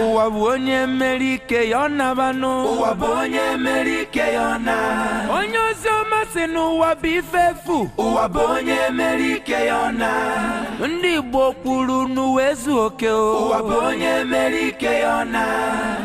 ụwa bụ onye mere ike ya ọ naba n'ụwa bụ onye mere ike ya ọ na onye ozi ọma sị n'ụwa bụ ife efu ụwa bụ onye mere ike ya ọ na ndị Igbo kwuru n'ụwa ezu oke ụwa bụ onye mere ike ya ọ na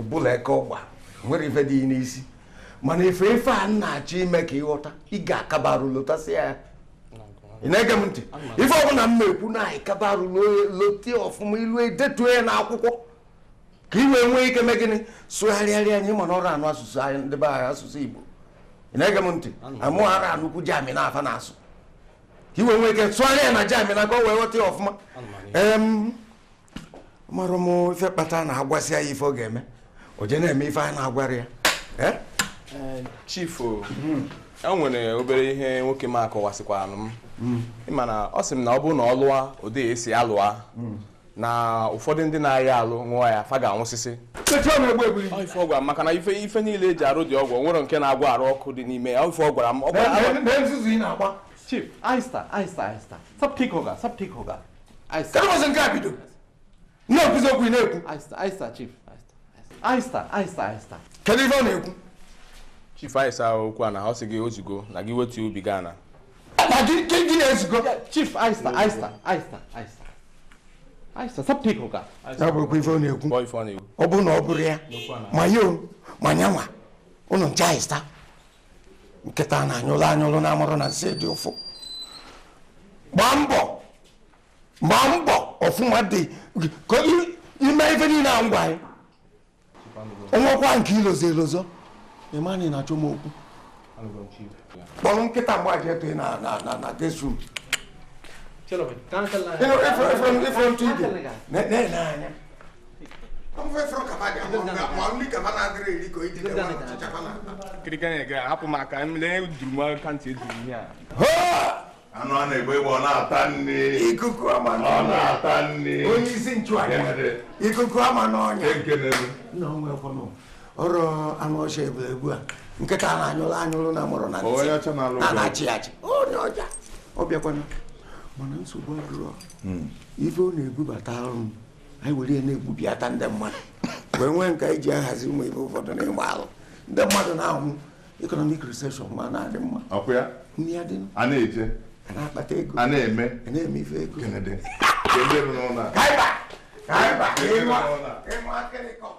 ọbụla eke ọgba nwere ife dị n'isi mana ife ife a na-achọ ime ka ị ghọta ị ga-akabarụ lotasị ya ị na-ege m ntị ife ọbụla m na-ekwu na anyị kabarụ lotie ọfụma ilu edetuo ya n'akwụkwọ ka ị wee nwee ike mee gịnị sụgharịara ya ị ma na ọrọ anụ asụsụ anyị ndị be anyị asụsụ Igbo ị na-ege m ntị amụ arọ anụkwu German fa na-asụ ka ị wee nwee ike sụgharịa ya na German ka o wee ghọta ya ọfụma marọ m ife kpata na a gwasịa ya ife ọ ga-eme o je na-eme ife a na-agwarọ ya eh? Eh, chief hmm. o nwere obere ihe nwoke m a kọwasịkwaranụ m hmm. ịma na ọ sị m na ọ bụrụ na ọ lụa ụdị esi alụ ya hmm. na ụfọdụ ndị na-aya arụ ṅụọ ya fa ga-anwụsịsịa ife ọ gwara maka na ife ife niile eji arụ ụdị ọgwụ nwere nke na-agwọ arụ ọkụ dị n'ime ya ife ọ gwara m ọ gwara kedu ụbọchị nke a bido na-ekwuzi okwu ị na-ekwu kedu ife ọ na-ekwu chief aisa ọkwa na ọ sị gị o zugo na gị wetu obi gị ana na gị gị gị na-ezugo chief aista aista aista aista aista sapụ iko ka ya bụ okwu ife ọ na-ekwu kpọọ ife ọ na-ekwu ọ bụ na ọ bụrụ ya ma yị ma nyanwa ụnụ ncha aista nkịta na-anyụlụ anyụlụ na amarọ na nsị dị ụfụ gbaa mbọ gbaa mbọ ọfụma dị ka ime ife niile a m gwa yị o nwekwa nke i lozọ elozọ ị ma na ị na-achọ m okwu kpọrọ nkịta m gbaje tụye na na na na guest room ifront ibe na-ele anya anụ a na-agba egbe ọ na-ata nri ikuku ama ọ na-ata nri onye isi nchụaja ikuku ama n'ọnya ọrụ anụ ọcha ebule egbu a nkịta na-anyụrụ anyụrụ na amarọ na na-achị achị onye ọcha ọ bịakwana mana nsogbu adịrọ hmm. ife ọ na-ebubatara m anyị were na-egbubilata ndị mmadụ wee nwee nke anyị ji ahazi ụmụ ibe ụfọdụ na ịgba alụ ndị mmadụ na-anwụ economic recession ma na-adị mma ọkwa ya nri adị a na-eje a na-akpata ego a na-eme a na-eme ife ego kenede ka ebe nọ n'ụlọ a. Kaiba! Kaiba! Ịnwa! Ịnwa akịrịkọ!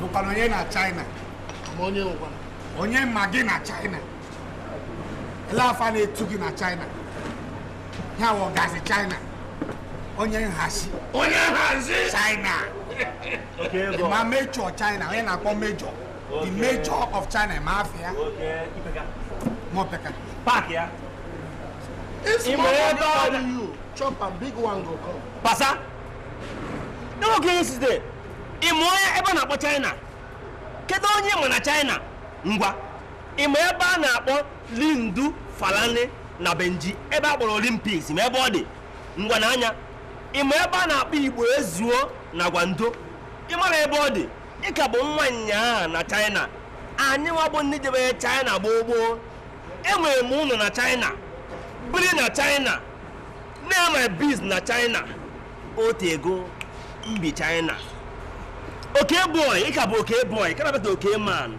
bụkwanụ onye na China ma onye ngwa onye ma gị na China ele afa a na-etu gị na China ya wụ gazi China onye nhazi onye nhazi China ịma Major China onye a na-akpọ Major the major of China ịma afịa mọpeka paaki ya ịma ebe ọ dị you chop and big one go come pasa n'oge ihe site ịma onye ebe a na-akpọ China kedu onye ịma na China ngwa ịma ebe a na-akpọ Lindu Falani na Beijing ebe a kpọrọ Olympics ịma ebe ọ dị ngwa na anya ịma ebe a na-akpọ Igbo ezuo na Guangdong ịmara ebe ọ dị ị ka bụ nwa nyaa na China anyị nwa bụ ndị jebere China gboo gboo enwere m ụlọ na China biri na China na-eme biz na China o teego m bi China oke boy ị ka bụ oke boy ka na-abata oke man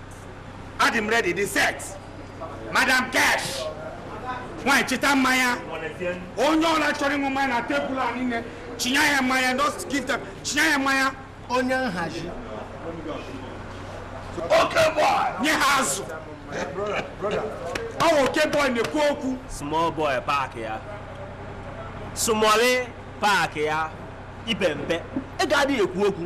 adị m ready the set madam cash nwanyị chịta mmanya onye ọbụla chọrọ ịṅụ mmanya na tebụl a niile chinye ya mmanya just give them chinye ya mmanya onye nhazi oke boy nye ha azụ ọ bụ oke boy na-ekwu okwu small boy park ya small park ya i pe mpe ị ga-adịghị ekwu okwu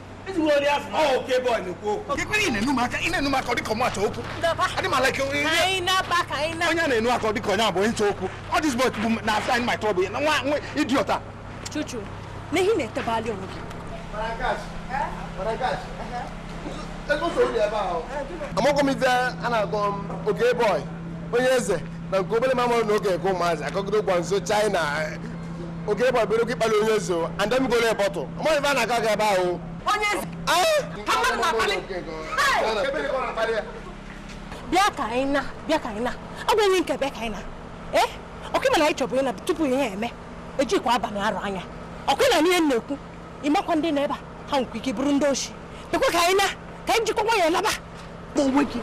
onye na-enu aka dịka onye abụ nche okwu ọ dịzbọ bụ na asa anyị ma tọbụ nwa nwa idiot chuchu n'ihi na-etebali onwe gị amagwọ m ife a na-agwa m oke boy onye eze na nke obere mamụrụ na oge nke ụmụazị akọgide ụgwọ nso china oge ịgba bere oge ịkpali onye eze and then golo bọtụ amaghị ife a na-aga aga ebe ahụ onye eze ka mmadụ na-akpali bịa ka anyị na bịa ka anyị na ọ bụ enyi nke bịa ka anyị na ee ọkwa ịma na anyị chọbụ ịna tupu ihe eme ejikwa abalị arụ anya ọkụ ịna n'ihe m na-ekwu ịmakwa ndị na ebe a ha nwekwa ike bụrụ ndị oshi dịkwa ka anyị na ka anyị jikwa nwayọọ laba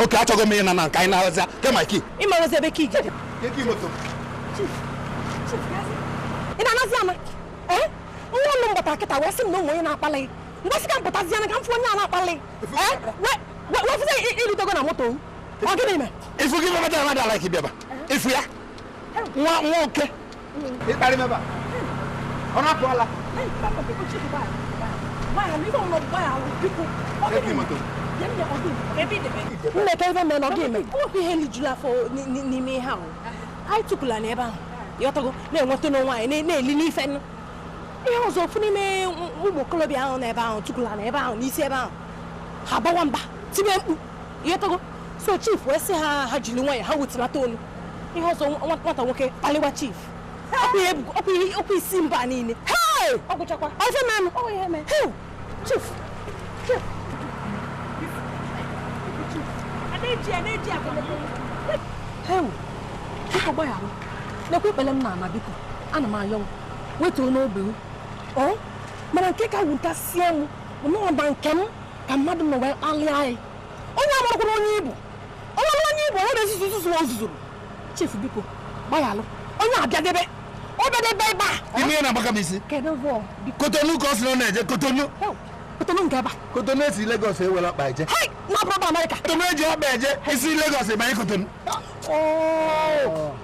oke achọghị m ịna na nke anyị na-aghọzi kema ki ịmarazi ebe ka ije ị na-anazi ana ee nwa ụlọ m gbata kịta wee sị m na o nwe onye na-akpali mgbasị ka m pụtazi ana ka m fụ onye a na-akpali ee wee fụzi ịrutego na moto ọ gịnị mee ifu gị mmadụ mmadụ ala ka ị bịaba ifu ya nwa nwa oke ịkparị m ebe a ọ na-apụọla mmeta ebe mere na ọ ga-eme okwu ihe lijuru afọ n'ime ihe ahụ anyị tukwu ala n'ebe ahụ ịghọtago na-enweta onwe anyị na-eli n'ife nụ ihe ọzọ ofu n'ime ụmụ okorobịa ahụ n'ebe ahụ tukwu ala n'ebe ahụ i si ebe ahụ ha bawa mba tibe mkpu ịghọtago so chief wee sị ha ha jiri nwayọ ha wetulata olu ihe ọzọ nwata nwoke kpaliwa chief ọkwa isi mba niile ọ gwụchakwa ọzọ nanụ ọ ihe mee chief chief hewu biko gbaghara nekwa ikpele m n'ana biko ana m ayọ unu wetuonụ obi mana nke ka wutasie m na ọ bụ nke m ka mmadụ nọ wee kpalịa anyị onye amarakwara onye ị bụ onye amara onye ị bụ onye na-ezuzu nzuzu o zuzuru chifu biko gbaghalụ onye abịadebe ọ bịadebe ebe a ị ma ihe na-agbaka m isi kedu vọ biko kotonu ka ọ sị na ọ na-eje kotonu Heo, kotonu nke ebe a kotonu e si legos e were ọkpa eje hei na ọ bụrọ amerịka kotonu e ji ọkpa eje i si legos ị banye kotonu Oh.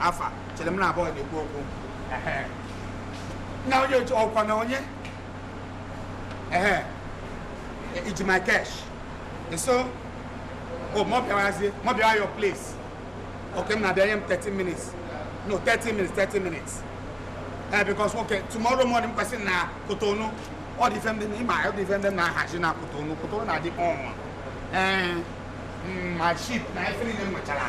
afa chere m na abụọ na-ekwu okwu Ehe. na onye otu ọkwa na onye ehe i ji my cash so o mụ bịawazie mụ bịawa your place okay m na-abịa nye m 30 minutes no 30 minutes 30 minutes ee because okay tomorrow morning m kwesịrị na kotonu ọ dị ife ndị ị ma ọ dị ife ndị m na-ahazi na kotonu kotonu na-adị ọnwa ee mm, my ship na ife niile m nwechara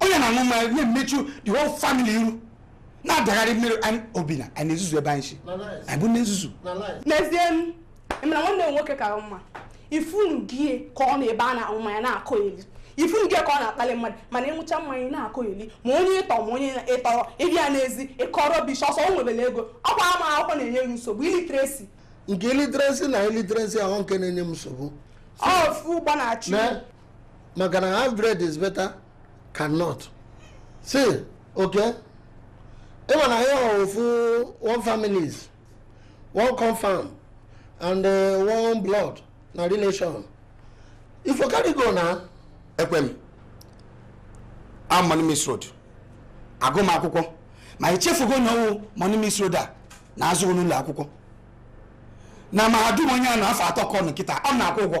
onye na-aṅụ mmanya na-emechu the whole family iru na-adagharị mmiri obi na anyị na-ezuzu ebe anyị si anyị bụ ndị nzuzu n'ezie mana nwanne m nwoke ka mma ifunu gie ka ọ nọ ebe a na-aṅụ mmanya na-akọghelị ifunu gie ka ọ na-akpali mmadụ mana ịṅụcha mmanya na-akọghelị ma onye ị tọ ma onye ị tọrọ ị bịa n'ezi ị kọọ rubbish ọsọ o nwebere ego ọkwa ama akwụkwọ na-enye gị nsogbu illiteracy nke illiteracy na illiteracy ahụ nke na-enye m nsogbu ọfụ ụgbọ na-achụ maka na half bread is better cannot si okay ị ma na ya ofu one families one confam and uh, one blood na relation if you carry go na ekwe m a money miss road agụ m akwụkwọ ma i chefugo na ọ wụ money miss road a na-azụ n'ụlọ akwụkwọ na mahadum onye a na afọ atọ ka ọ nọ kịta ọ na-akwụ ụgwọ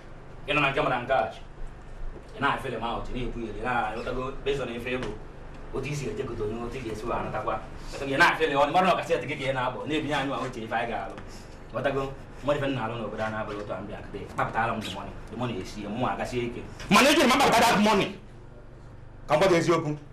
ị nọ na nke mara nke a ị na-afeel m ahụ na-ekwu ihe ị na-anụtago based on ife a bụ otu i si ejegote onye otu ị ga-esi wee anụtakwa ị na-afeel ọ mara na ọkasị gị ka ị na-abọ na-ebinye anyị ahụ ife anyị ga-alụ ghọtago mmadụ ife na-alụ n'obodo a na-abụghị otu a m bịa kịta kpapụtara m the money the money esi mụ agasie ike mana ejiri m akpapụta that money ka m gwa gị eziokwu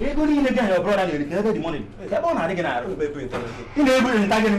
ego niile gị ahụ ọ bụrụ na-eri ka ebe dị mọnị ebe ọ na-adị gị na-arụ ị na-ebu nta gịnị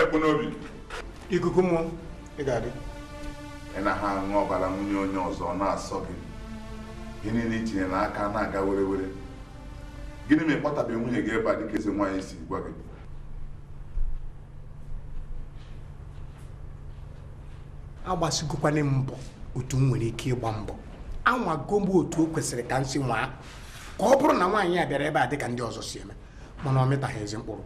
ekpu n'obi ikuku mmụọ ị ga-adị ị naha aṅụ ọbara nwunye onye ọzọ na-asọ gị ihe niile i tinye n'aka na-aga were were gịnị mere ị kpọtabeghị nwunye gị ebe a dịka eze nwaanyị si gwa gị agbasigokwanụ m mbọ otu m nwere ike ịgba mbọ anwago m otu o kwesịrị ka m si nwaa ka ọ bụrụ na nwaanyị a bịara ebe a dịka ndị ọzọ si eme mana ọ mịtaghị ezi mkpụrụ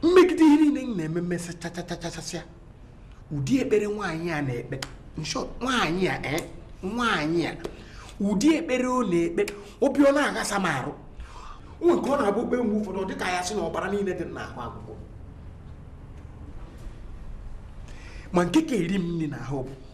m megide ihe niile m na-eme m mesịchachachachasịa ụdị ekpere nwaanyị a na-ekpe in short nwaanyị a eh, nwaanyị a ụdị ekpere ọ na-ekpe obi ọ na-aghasa m arụ nwee nke ọ na-abụ o kpee mgbe ụfọdụ ọ dị ka ya sị na ọbara niile dị m n'ahụ agwụgo ma nke ka eri m nri n'ahụ bụ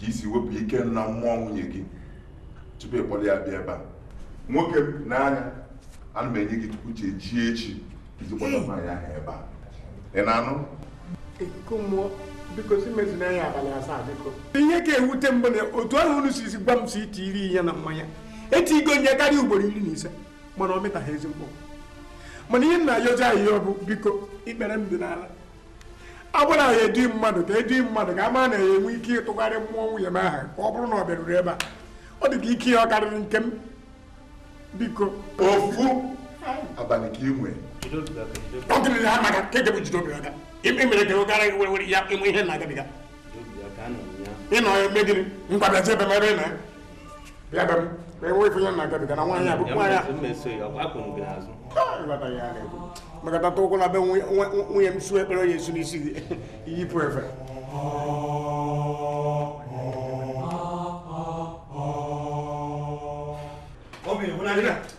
ka i si wepụ ike na mmụọ nwunye gị tupu ị kpọrọ ya bịa ebe a nwoke n'anya ana m enye gị tupu chi ejie echi iji kpọrọ nwaanyị ahụ ebe a ị na-anụ ikuku mmụọ biko sị mezienụ ya abalị asaa biko ihe ka ewute m bụ na otu ahụ unu si gwa m si i tiiri ihe na mmanya etiigo m ya karịa ugboro iri na ise mana ọ mịtaghị ezi mkpụrụ mana ihe m na-ayọzi ayịyọ bụ biko ikpere m dị n'ala a gwara ya edi mmadụ ka edi mmadụ ka a mara na ya enwe ike ịtụgharị mmụọ nwunye m aha ka ọ bụrụ na ọ bịaruru ebe a ọ dị ka ike ya ọ karịrị nke m biko ofu abalị ka ị nwee ọ gịnị na ha maka ka ejebu jide obi aka ime mere ka a gwara gị were ya ị ma ihe m na-agabiga ị nọ ya eme gịnị ngwa bịazi ebe mere na bịa be m ka enwe ife ya na-agabiga na nwaanyị abụ nwaanyị a ị ghọta ya na-ekwu maka tata ụkwụ na be nwunye m su ekpere onye esu n'isi gị iyipụ efe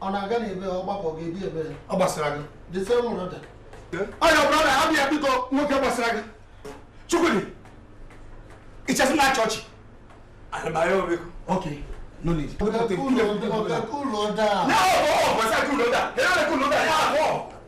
ọ na-aga n'ebe ọ gbapụ gị ebi ebe ọ gbasara gị dịte mụrụ da ọya brọda ha bịa biko nwoke gbasara gị chukwudi i chesi na achọ ọchị anabaya o biko ok no need ọkaka ụlọ da na ọ bụ ọ gbasara gị ụlọ da ya abụọ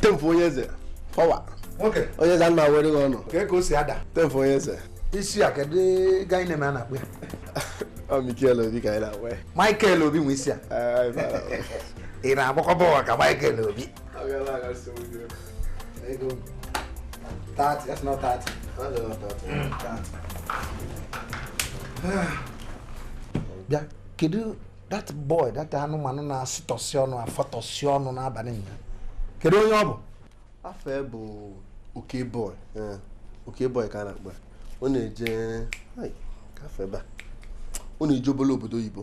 temfu onye eze fọwa onye eze ana were gị ọnụ ka ka o si ada temfu onye eze isi a kedu ka ị na-eme a na-akpụ ya ọ Mikel Obi ka anyị na-akpụ ya Mikel Obi nwe isi a ị na-agbakwa bọọlụ ka Mikel Obi Ego. Thirty. That's not thirty. That's not thirty. Mm. Thirty. Bịa, kedu that boy that anụmanụ na-asịtọsị ọnụ afọtọsị ọnụ n'abalị nna kedu onye ọ bụ afụ bụ oke boy eh, oke boy ka a na-akpọ ọ na-eje afọ ebe a ọ na-eje obere obodo oyibo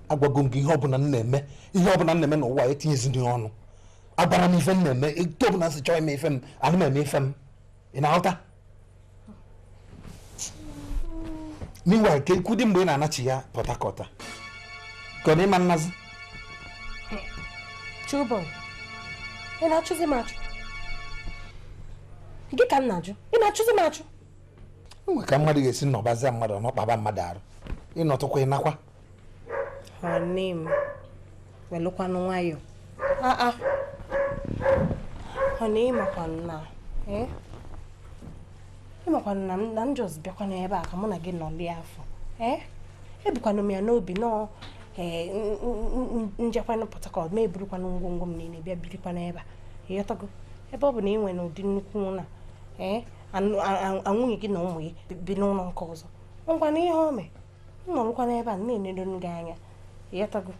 agwago m gị ihe ọbụla m na-eme ihe ọbụla m na-eme n'ụwa etinyezi ndị ọnụ agbara m ife m na-eme etu ọbụla si chọọ ime ife m ana m eme ife m ị na-aghọta ngwa ka e kwudi mgbe ị na-anachigha Port Harcourt ka ọ na ị ma anazi Children, ị na-achụzi m achụ gị ka m na-ajụ ị na-achụzi m achụ e nwe ka mmadụ ga-esi nọbazi mmadụ nọkpaba mmadụ arụ ị nọtụkwa ị nakwa nne m welụkwanụ nwayọ ah, ah. ọ na ị makwanụ na eh? ị makwanụ na na m just bịakwanụ ebe a ka mụ na gị nọli afọ eh? ebukwanụ m ya n'obi na m jekwanụ Port Harcourt m eburukwanụ ngwongwo m niile bịa birikwanụ ebe a ị ghọtago ebe ọ bụ na ị nwere ụdị nnukwu ụnọ a nwunye gị na ụmụ gị bi n'ụnọ nke ọzọ o nwekwanụ ihe o mee m nọrọkwa n'ebe a na-enedo gị anya ị ghọtago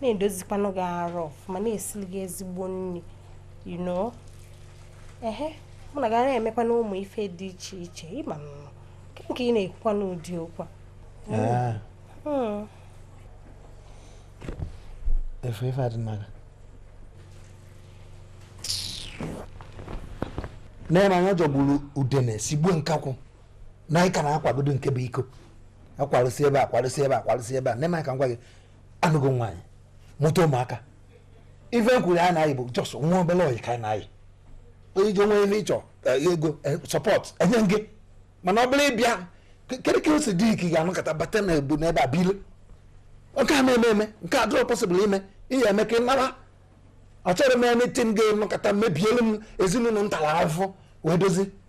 na-edozikwanụ gị arụ ọfụma na-esili gị ezigbo nri you know ehe mụ na gị ana-emekwanụ ụmụ ife dị iche iche ị manụ nke nke ị na-ekwukwanụ ụdị okwu a hmm. efe ife adị mma n'anya jọgburu udene sigbuo nkakwụ na anyị ka na-akwagodo nke bụ iko akwarụsi ebe a kwarụsi ebe a kwarụsi ebe a nne m anyị ka m gwa gị anụgo m nwaanyị mụta ụmụaka ife m kwuru anyị na-ayị bụ just nwa obere oyi ka anyị na-ayị onye ji o nwee ife ị chọ eh, ego eh, support enye gị mana ọ bụrụ ịbịa ke- kedu ka o si dị ike ga-anọkọta bata na ebu n'ebe a bili nke a ama eme eme nke a adịrọ possible ime ihe eme ka ị naba achọrọ m ya na eti m ga-enọkọta mebielu m ezinụnọ m talụ afụfụ wee dozi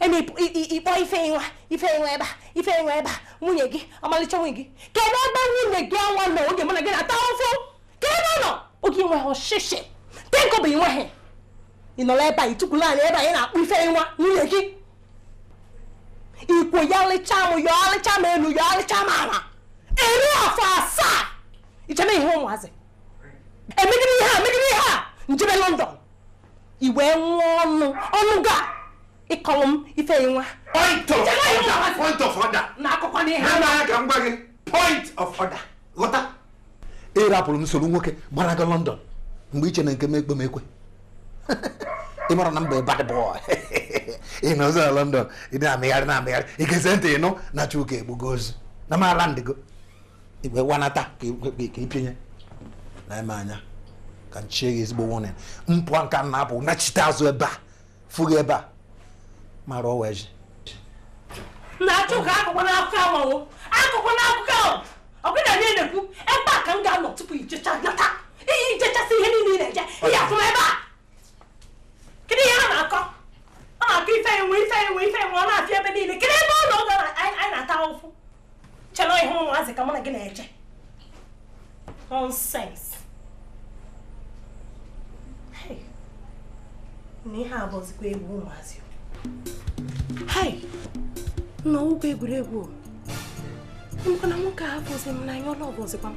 e mee ị kpọọ Ifenwa Ifenwa ebe a Ifenwa ebe a nwunye gị ọmalịcha nwunye gị kedu ebe nwunye gị ọnwa nọ oge mụ na gị na-ata ụfụ kee ebe ọ nọ oge i nweghị shishi ten kobo i nweghị ị nọrọ ebe a i tukwulu ani ebe a na-akpọ Ifenwa nwunye gị ikwo ya lịcha m ya ọlịcha m elu ya ọlịcha m ala eri afọ asaa ichebe ihe ụmụazị emegide ihe a megide ihe a njebe London i wee nwee ọnụ ọnụ ga ịkọrọ m Ifenwa point of order point of order na akụkọ n'ihe ha na-anya ka m gwa gị point of order ghọta ị rapụrụ m soro nwoke gbanaga London mgbe i che na nke m ekpe m ekwe ị mara na m bụ bad boy ị nọzi na London ị na-amịgharị na-amịgharị ị gezie ntị ị nụ na Chuka egbugo ozu na m alandigo i wee wanata ka ịpịnye na eme anya ka nchie gị ezigbo warning m pụa nke a m na-apụ nachite azụ ebe a fụ gị ebe a mara ọwa eji na Chuka akụkọ n'akụkọ amawo akụkọ n'akụkọ ahụ ọbụna na na-ekwu ebe a ka m ga-anọ tupu i jecha nata ị ya-ejechasị ihe niile ị na-eje ị ya-afụ m ebe a kedu ihe a na-akọ ọ na-akọ Ifenwa Ifenwa Ifenwa ọ na-afịa ebe niile kedu ebe ọ nọ oge anyị na-ata ụfụ che na ihe ụmụazị ka mụ na gị na-eche nonsense na ihe a bụzikwa egwu ụmụazị hai na ọ bụkwa egwuregwu o na nwoke ahụ bụzi m na anyị ọlụ ọbụzikwa m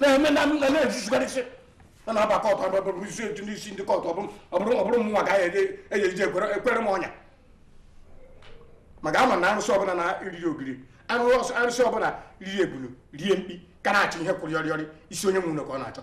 na-eme na na-ejizigharịsị a na-aba court ababụ isi etu n'isi ndị court ọ bụrụ mụnwa ka anyị eji eji ekwere m ọnya ma ị ga-ama na arụsị ọbụla na-eriri ogiri arụsị ọbụla riri ebulu rie mkpi ka na-achọ ihe kwụrụ yọrịyọrị isi onye nwe ya ka ọ na-achọ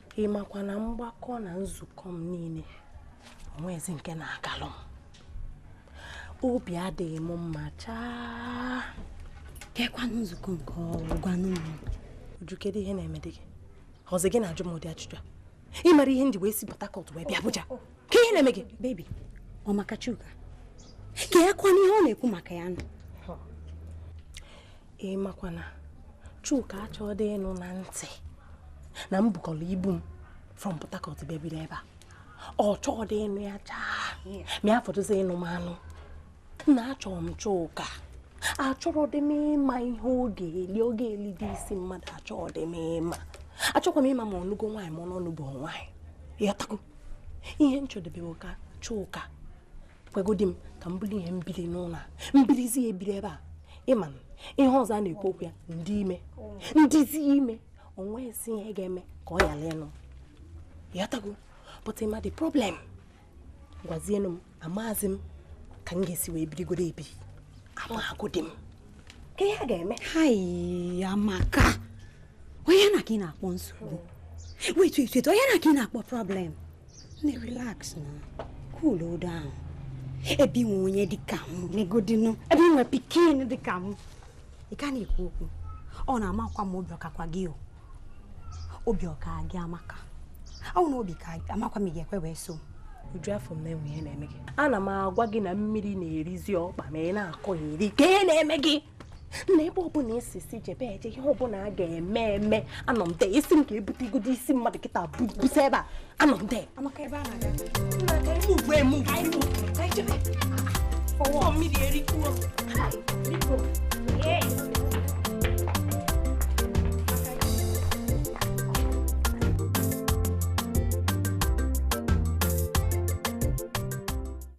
ị makwa na mgbakọ na nzukọ m niile o nwezi nke na-agalụ m obi adịghị m mma chaa kekwanụ nzukọ nke ọ bụ gwanụ m Uju kedu ihe na-emedị gị ọ bụzi gị na-ajụ m ụdị ajụjụ a ị mara ihe m ji wee si Port Harcourt wee bịa Abuja kee ihe na-eme gị baby ọ maka Chuka kekwanụ ihe ọ na-ekwu maka ya nụ ị makwa na Chuka achọọ dị ịnụ na ntị na m bukọrọ ibu m from Port Harcourt bịa biri ebe a ọ chọrọ dị ịnụ ya chaa ma ya fọdụzi ịnụ m anụ na achọrọ m Chuka achọrọ dị m ịma ihe ọ ga-eli ọ ga-eli dị isi mmadụ achọrọ dị m ịma achọkwa m ịma ma ọ nụgo nwaanyị ma ọ nụbu nwaanyị ị ghọtago ihe m chọ dị bụ ka Chuka kwegodi m ka m buru ihe m bili n'ụlọ a m bilizia ebiri ebe a ị ma ihe ọzọ a na-ekwu okwu ya m dị ime m dịzi ime o nwezi ihe ga-eme ka ọ yala ịnụ yatago but ma the problem gwazienụ m amazi m ka m ga-esi wee birigoro ebiri amagodi m ka ihe a ga-eme amaka ọ ihe na ka ị na-akpọ nsogbu wetu etu etu ọ ihe na ka ị na-akpọ problem na relax na cool down ebe i nwe onye dịka m negodinu ebe i nwe pikin dịka m ị ka na-ekwu okwu ọ na-amakwa m obi ọ kakwa gị o obi ọ ka gị amaka ọ na obi ka amakwa m ị ga-ekwe wee so m uju afọ m na-enwe ihe na-eme gị ana m agwa gị na mmiri na-erizi ọkpa m ị na-akọyeri ka ihe na-eme gị na ebe ọbụla esi si jebe eje ihe ọbụla a ga-eme eme anọ m there ị sị m ka e bute igodo isi mmadụ kịta busa ebe a anọ m there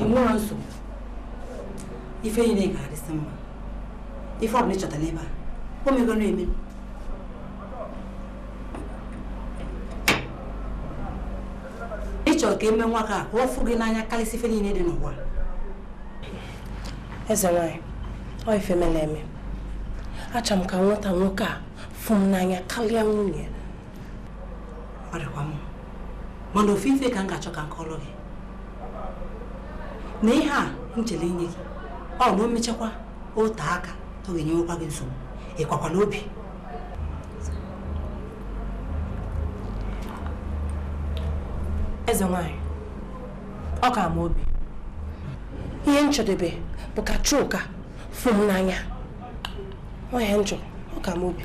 i nwerọ nsogbu ife niile ga-adịsị mma ife ọbụla ị chọtara ebe a o megoro eme ị chọrọ ka e mee nwoke a ka ọ fụ gị n'anya karịsị ife niile dị n'ụwa eze nwanyị ọ ife mere eme achọrọ m ka m nweta nwoke a fụ m n'anya karịa nwunye ọ dịkwa mma mana ofu ife ka m ga-achọ ka m kọọrụ gị na ihe a m chere inye gị ọ na o mechakwa ote aka ọ ga-enyewekwa gị nsogbu ị kakwala obi eze nwanyị ọ ka m obi ihe m chọdebe bụ ka chuka fụ m n'anya ọ ya m chọ ọ ka m obi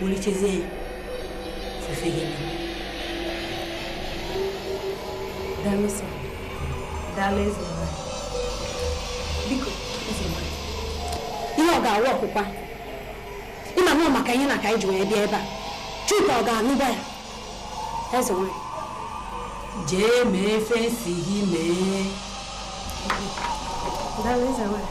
wulichezie ya fufe gị daalụ sọ daalụ eze biko eze ihe ọ ga-awụ ọkwụkwa ị manụ ọ maka ihe na ka anyị ji wee bịa ebe a chuka ọ ga-anụba ya eze nwanyị jee mee ife m sị gị mee daalụ eze nwanyị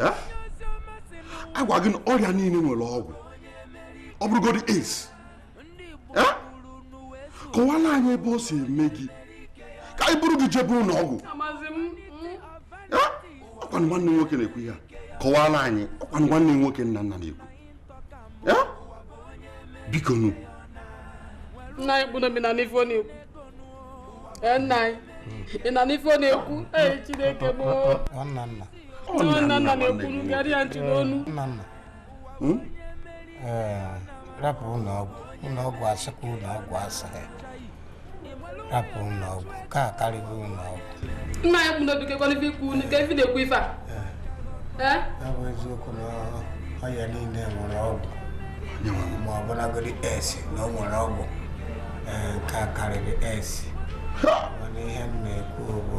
Eh? agwa gị na ọrịa niile nwere ọgwụ ọ bụrụgodị AIDS eh? kọwala anyị ebe o si eme gị ka anyị buru gị jebe ụnọ ọgwụ ọkwanụ nwanne nwoke na-ekwu ihe a kọwara anyị ọkwanụ nwanne nwoke nna nna na-ekwu biko nu nna anyị kpụrụ omenala na-ekwu nna anyị ị na n'ife na-ekwu ee chineke gboo nwanna nna hmm? eh, rapụ ụnọ ọgwụ ụnọ ọgwụ asịkwa ụnọ ọgwụ asịrị rapụ ụnọ ọgwụ nke a karịrị ụnọ ọgwụ nna ya ekwu n'obi kekwanụ ife ikwu ka ife na-ekwu ife a eh. eh? ọ bụ eziokwu na ọya niile nwere ọgwụ ma ọ bụrụgodi AIDS na o nwere ọgwụ nke a karịrị AIDS mana ihe m na-ekwu bụ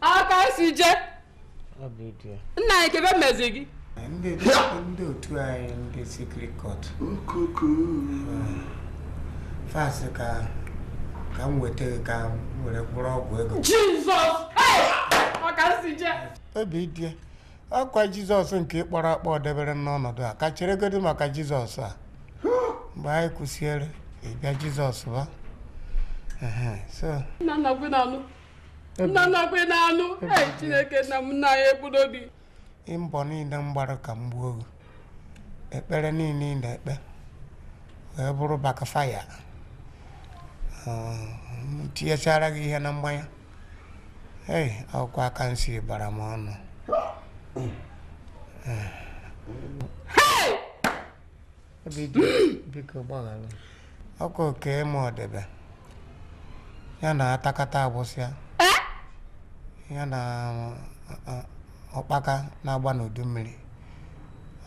aka si je nna anyị kebe mmezi gị ndị otu anyị ndị secret cult fast ka ka m weta gị ka m were kwụrụ ọgwụ ego jizọs ọka si je obi dị ọkwa jizọs nke ị kpọrọ akpọ debere m n'ọnọdụ a ka cheregodi maka jizọs a mgbe anyị kwụsịere ịbịa jizọs ba Ehe, so nna nna gwe na-anụ nna nna gwe na-anụ ee chineke nna m nna ya ekwu n'obi ị mbọ niile m gbara ka m gbuo gị ekpere niile ị na-ekpe wee bụrụ backfire tinyechara gị ihe na mmanya ei ọ bụkwa aka nsi bara m ọnụ biko gbaghara ọkwa oke ma ọdebe ya na atakata agbụsịa ya na ụkpaka na-agba n'udu mmiri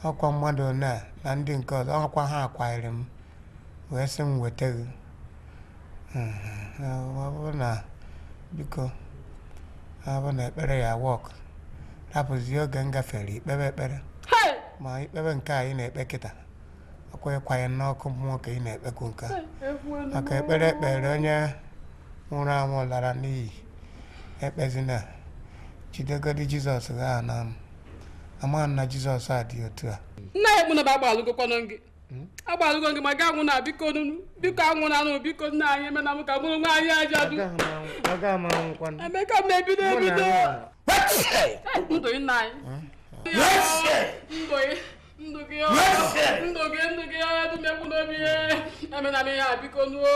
ọkwa mmadụ one na ndị nke ọzọ ọkwa ha kwairi m wee sị m weta gị ọ bụrụ na biko ọ bụrụ na ekpere ya work rapụzie oge m gafere i kpebe ekpere ma i kpebe nke a ị na-ekpe kịta ọkwa ịkwanye n'ọkụ mmụọ ka ị na-ekpekwu nke a maka ekpere ekpere onye nwụrụ anwụ lara n'iyi ekpezina jidegodi jizọs gị ahụ na ama na jizọs a dị otu a nna ya ekwu n'obi agbalụgokwanụ gị hmm? agbalụgo gị ma gị anwụna biko biko anwụnanụ biko nna anyị emena m ka mụrụ nwa anyị aja dụ emeka m ebido ebido ndụ nna anyị ndụ gị ndụ gị ndụ gị ndụ gị ya dụmekwu n'obi ya emena m ihe a biko nuo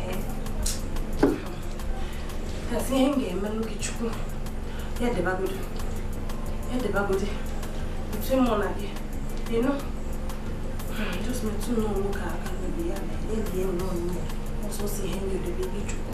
ihe m ga-emelụ gị chukwu ya dịbagodi ya dịbagodi otu mụ na gị nọ just metụ n'ọnwụ ka aka n'obi ya na elie nnọọ nne ọsọ si ihe ndị odebe gị chukwu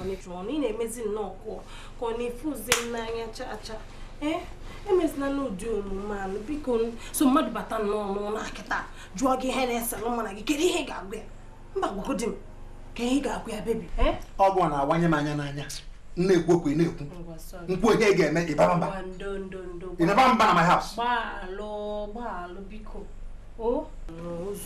ọnụ ị na-emezi nnọọ ka ị na-afụzi m n'anya chaa chaa ee emezina nụ ụdị omume anụ biko so mmadụ bata nnọọ n'ụlọ a kịta jụọ gị ihe na-ese nụ mụ na gị kedu ihe ị ga-agwa ya mba gwagodi m kee ihe ị ga-agwa ya bebi ọgwụ a na-awanye m anya n'anya na-ekwu okwu na-ekwu nkwu ihe ga-eme ị baba mba ị na-aba mba na my house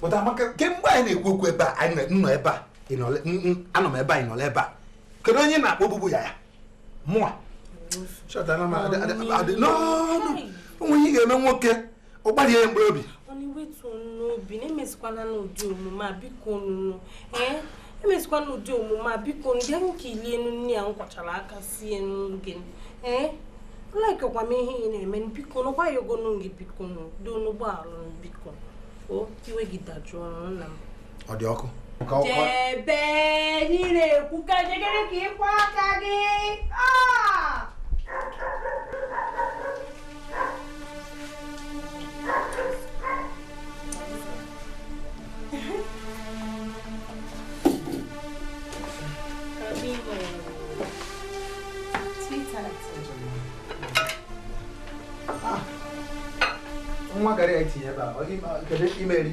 pụta maka kemgbe anyị na-ekwu okwu ebe a anyị nọ ebe a anọ m ebe anyị nọla ebe a kedu onye na-akpọ ogbugbu ya ya mụa o nwe ihe ga-eme nwoke ọ gbalịa ya mkpụrụ obi wetuo nụ obi na emezikwana nụ ụdị omume a bikonu ee emezikwana ụdị omume a bikonu diwe ka i lie nụ nni a m kwachara aka sie nụ gị e likerọkwa m ihe ị na-eme bikonu ngwa ayọgo nụ m gị bikonu ndo nụ gbaghalụ m biko o iwe gị dajụọ nna m ọ dị ọkụ jebe n'ire ekwu ka jegere ka ị kwọ aka gị nwa gara ya tinye ebe a kedu ime eri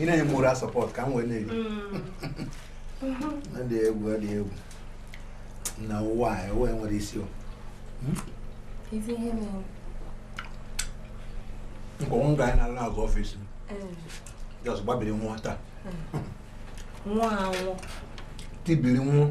ị na-enye m moral support ka m wee na-eri ọ dị egwu ọ dị egwu na ụwa a ụwa nwere isi o nkwa nwa ga anyị na-alụ n'azụ office m just gbabiri nwa taa nwa anwụ tibiri nwa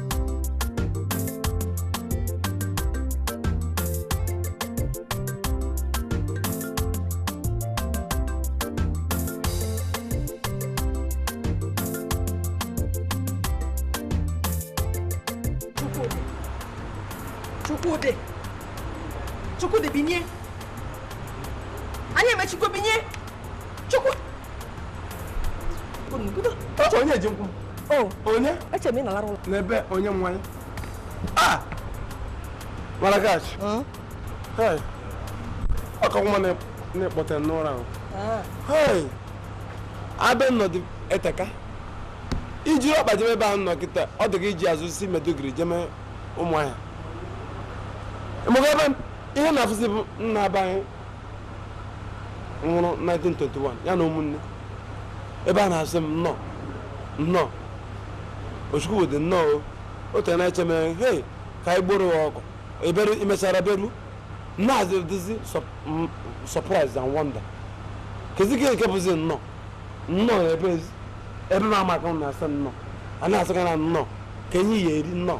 Chukwudi Chukwudi binye anyị emechikwa binye Chukwu onye ji nkwụ o onye eche m ị nọlara ụlọ n'ebe onye nwanyị a maragach ọka nwa na-akpọte n'ụra ahụ ah. ebe m nọdụ eteka iji ọkpa jebe ebe a nọ kịta ọ dị ka iji azụ si Maiduguri jeme Ụmụahịa ihe na-afụzi bụ nna be anyị nwụrụ 1921 ya na ụmụnne ebe a na-asị m nnọọ nnọọ o Chukwudị nnọọ o. o tere na-eche m hei ka anyị gboro ya ọkụ ebere i mechara bịaruo nnaazị dịzi surprise and wonder kezi nke bụzi nnọọ nnọọ ebe ezi- ebe m amaka m na-asị nnọọ a na-asịkwa na nnọọ ka enyi ya eri nnọọ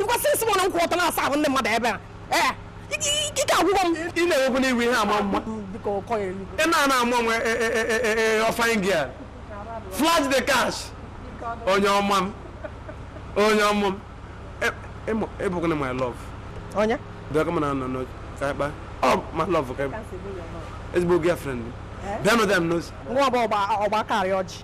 ịkwasị isi mụ na nkwụ ọtọ na-asa ahụ ndị mmadụ ebe a ee ike agwụgo m ị na-enwekwu n'iwu ihe ama mma ị na-ana ama nwe ọfanye gị a flash the cash onye ọma m onye ọma m ị bụkwanụ my love onye bịa kama na anọ n'oge ka anyị kpaa ọ my love ka ezigbo girlfriend bịa nọdụ ya m n'ozi nwa ọgba ọgba akarị ọjị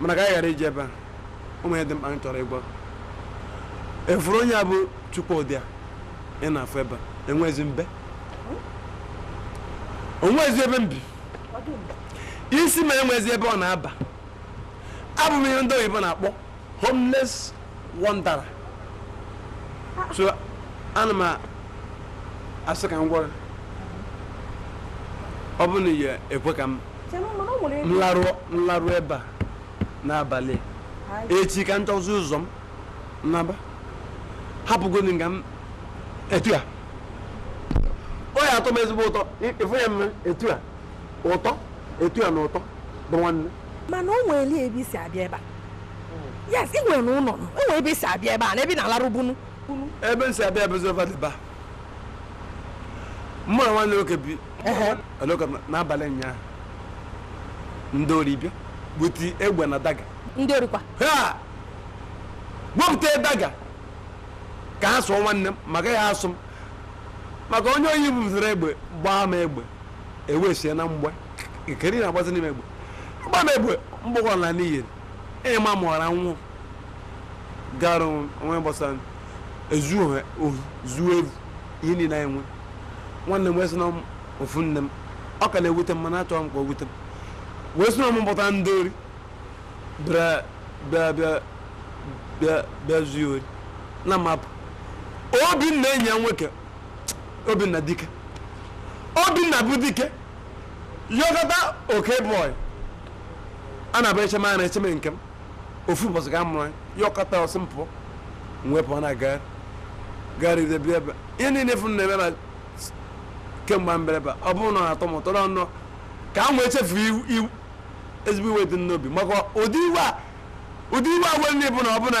mana ka anyị ghara ije ebe a o nwe ihe dị mkpa m chọrọ ịgwa ị fụrụ onye a bụ Chukwudị a ị na-afụ ebe a enwezi m be o nwezi ebe m bi isi m enwezi ebe ọ na-aba abụ m ihe ndị oyibo na-akpọ homeless wanderer so ana m asị ka m gwara ọ bụ na ị ya-ekwe ka m larụ ebe a n'abalị echi ka m chọzi ụzọ m naba hapụgodi nga m etu a ọ ya atọ m ezigbo ụtọ ịfụ ya mma etu a ụtọ etu a na ụtọ bụ nwanne mana o nwelụ ebe i si abịa ebe a yes ị nwere na ụlọ o nwe ebe i si abịa ebe a na ebe ị na-alarụbu nụ ebe m si abịa bụ zova dịba mụ na nwanne m nwoke bi aloka n'abalị ụnyaahụ ndị ori bịa bute egbe na daga ndị orikwa ha wepụta daga ka ha sụọ nwanne m ma ka ha sụọ m ma ka onye ori buziri egbe gbaa m egbe e wee sie na mgba nke niile agbazina m egbe agbana m egbe mgbọ ga-ana n'iyi enye ma mụọra nwụ gara onwe gbasara ezu ohe ohi zuo evu ihe niile anyị nwe nwanne m wee sị na m ofu nne m ọ ka na-ewute m mana achọghị m ka o wute m wee sị na m buta ndị ori bịa bịa zuo ori na mapụ Obinna enyi ya nwoke Obinna dike Obinna bụ dike yọkọta oke bọị a na-abụ echeme a na-echeme nke m ofu ụbọchị ga mụrụ yọkọta ọ sị m pụọ wee pụọ na-agagharị gagharịde bịa ebe ihe niile fụ na-eme na kemgbe mbereba ọ bụrụ na ọ na-atọ m ụtọ na nnọọ ka m wee chefu iwe ezigbo iwe dị n'obi maka ụdị iwe a ụdị iwe a were na ịbụ na ọbụna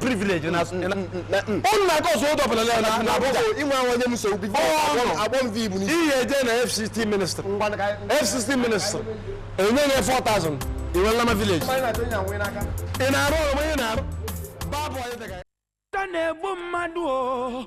privilege na unu na-aka ọzọ ụdọ bụla na na Abuja inwe ahụ onye m so bi agbọ m vibu n'isi ihe eje na FCT minister FCT minister enye nye 4000 iwe nlama village ị na-arụ ọrụ onye na-arụ babụ onye dịka na-egbu mmadụ o